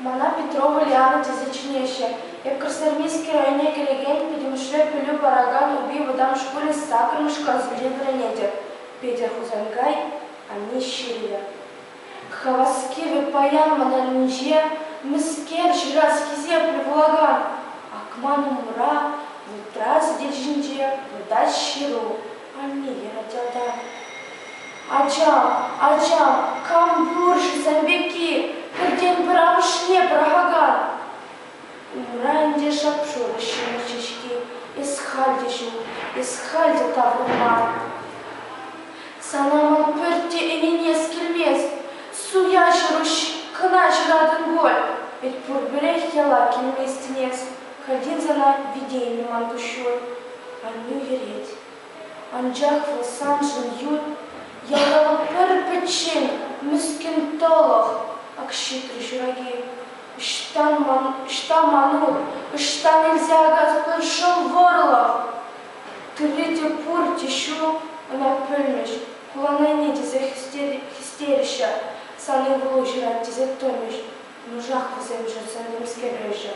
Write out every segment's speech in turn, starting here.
Мана Петрополь ялӗ тесе чӗнеҫҫӗ. Эпкӗрсермисски районне кӗрекен пӗтӗмӗшле пӗлӳ паракан Упи вӑтам шкулӗн саккӑрмӗш класӗнчен вӗренетӗп. Петӗр Хусанкай анне ҫырнӑ. Хаваски вӗт паян мӑнарӗнче мӗскер ҫыраскисем пӗр пулакан акман умра вутра сӗтел ҫинче выртать ҫыру. Анне, тата ача, ача, кам пур-ши сан пекки пӗртен-пӗр амӑшне пӑрахакан? Ура ӗнтӗ шап-шур ҫӗмӗрчӗ-ҫке, эс халь те ҫук, эс халь те таврӑнман. Сана ман пӳрте ӗненес килмест, суя ҫӑруҫ кӑна ҫыратӑн пуль, вӗт пурпӗрех яла килместӗн эс. Каллех ӑна вите илме ман куҫҫуль аннӳ йӗрет. Анчах вӑл саншӑн ют ялтава пӗр-пӗччен мӗскӗн тӑлӑх, ак ҫитрӗ ҫураки. Ӑҫтан ман, ӑҫта манур, ӑҫтан илсе акатпӑр шӑл вӑрлӑх? Тырри те пурте ҫук, ӑна пӗлмӗҫ, куланайне тесе хистереҫҫӗ, сан ывӑлу ҫырать тесе тӑмӗҫ, Куншах вӗсем чӑтса темскереҫҫӗ.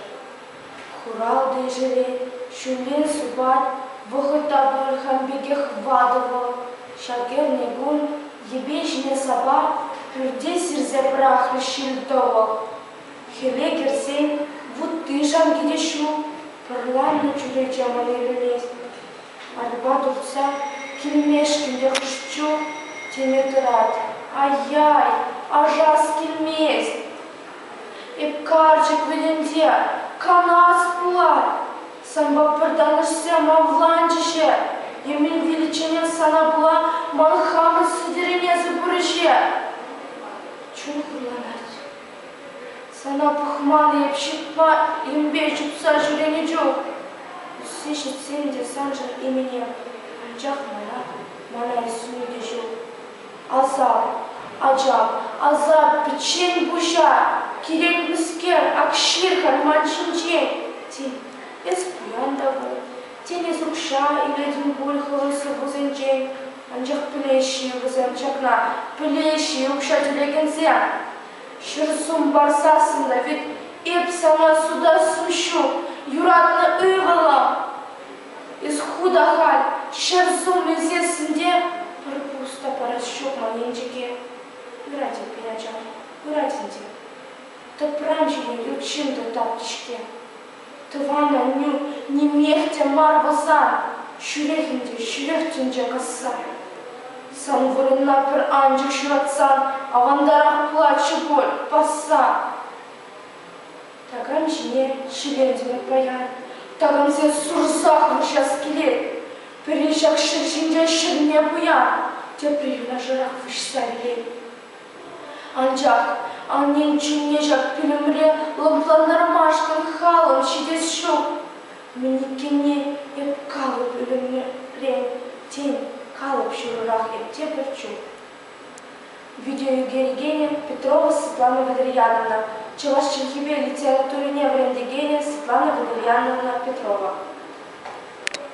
Хуралтӑ ҫӗрен ҫӳле супать, вӑхӑт та пуль хам пекех ватӑ вӑл. Ҫак эрне кун йӗпе ҫине сапа пӳрте сирсе пӑрахрӗ ҫил-тӑвӑх. Хӗле кӗрсен вутти-шанки те ҫук, пӑрланнӑ чӳрече мӑн ирӗлет. Атьпа тухса килмешкӗн те хӑш-чу теме тӑрать. Ай-яй, ажас килмест. Эп карчӑк вӗтӗнсе канас пулать. Санпа пӗр танӑшсем авланчӗҫӗ. Емел виличченех сана пула ман хамӑн сӗтӗренесӗр пурӗҫе. Чун хурланать. Сана пӑхман эп, ҫыртма ирӗмпе чупса ҫӳренӗ чух. Ӳссе ҫитсен те саншӑн именем, анчах мана, мана ӳсме те ҫук. Асап, ачам, асап, пӗччен пуҫа, кирек мӗскер ак ҫыр халь ман ҫинчен. Тен, эс пуян та пул, тен, эс укҫа илетӗн пуль хӑвӑн сыпусенчен. Анчах пӗлеҫҫӗ вӗсем ҫакна, пӗлеҫҫӗ укҫа тӳлекенсем. Ҫӗр сумбар сассӑннӑ вӗт, эп сана сутассу ҫук, юратнӑ ывӑлӑм! Эс ху та халь ҫӗр сум илсессӗн те пӗр пус та парас ҫук ман енчӗке. Ырать эппин, ачам, ырать ӗнтӗ. Тӑпран ҫине ют ҫын та тапт-ҫке. Тӑван аннӳ нимех те мар пулсан, ҫӳрех ӗнтӗ, ҫӳрех тӗнче касса. Сан вырӑнна пӗр анчӑк ҫуратсан авантарах пулатчӗ пуль, пасса. Такам ҫине ҫӗвентӗмӗр паян. Такамсем сурсах вырҫас килет. Пӗри ҫак ҫӗр ҫинче ҫӗрме пуян, тепри юнашарах выҫса вилет. Анчах аннен чунне ҫак пӳлӗмре лӑплантармашкӑн халӑх ҫитес ҫук. Мӗн иккенне эп калӑп ӳлӗмре, тен, калӑп ҫурӑрах эпте пӗр чух. Видеоӳкер генӗ Петрова Светлана Валерьяновна, чӑваш чӗлхипе литературине вӗрентекенӗ Светлана Валерьяновна Петрова.